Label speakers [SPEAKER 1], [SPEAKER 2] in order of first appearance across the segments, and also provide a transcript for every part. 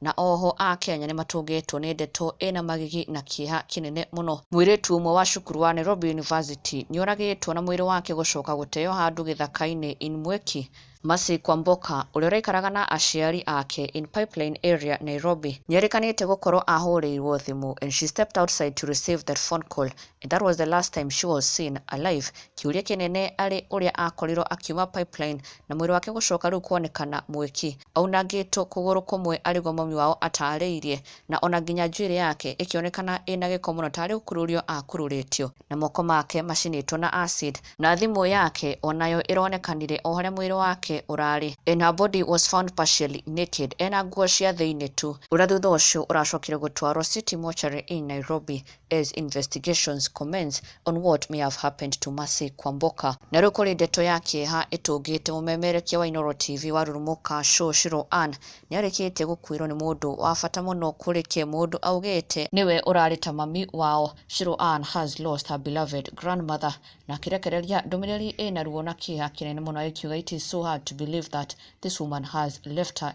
[SPEAKER 1] na oho a Kenya nĩ matũngĩtwo nĩ ndeto ĩna magigi na kĩeha kĩnene mũno. Mwĩrĩtu ũmwe wa cukuru wa Nairobi University nĩoragĩtwo na mwĩrĩ wake gũcoka gũteo handũ gĩthaka-inĩ in Mweki, Mercy Kwamboka, ũrĩa ũraikaraga na aciari ake in Pipeline area, Nairobi, nĩerĩkanĩte gũkorwo ahũrĩirwo thimũ and she stepped outside to receive that phone call and that was the last time she was seen alive, kĩũria kĩnene arĩ ũrĩa akorirwo akiuma Pipeline na mwĩrĩ wake gũcoka rĩu kwonekana Mweki. Aunangĩtwo kũgũrũ kũmwe arĩguo mami wao ataarĩirie, na o na nginya njuĩrĩ yake ĩkĩonekana ĩ na gĩko mũno taarĩ gũkururio aakururĩtio, na moko make macinĩtwo na acid, na thimũ yake o nayo ĩronekanire o harĩa mwĩrĩ wake ũraarĩ, and her body was found partially naked, e na nguo cia thĩinĩ tu. Ũrĩa thutha ũcio ũracokire gũtwarwo City Mortuary in Nairobi, as investigations commence on what may have happened to Mercy Kwamboka. Na rĩu kũrĩ ndeto ya kĩeha ĩtũngĩte mũmemerekia wa Inooro TV wa Rurumuka Show Shiro Ann nĩarĩkĩtie gũkuĩrwo nĩ mũndũ wa bata mũno kũrĩ ke mũndũ augĩte nĩwe ũrarĩ ta mami wao. Shiro Ann has lost her beloved grandmother na akĩrekereria ndũmĩrĩri ĩna ruo na kĩeha kĩnene mũno agĩkiuga it is so hard to believe that this woman has left her.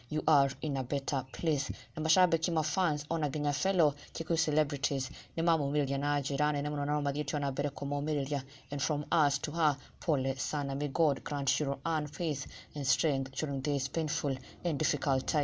[SPEAKER 1] you are in a better place na mashabiki ma fans ona nginya fellow Kikuyu celebrities nĩ mamũmĩrĩria na njĩra nene mũno nao mathiĩte ona mbere kũmũmĩrĩria and from us to her pole sana may God grant you and faith and strength during this painful and difficult time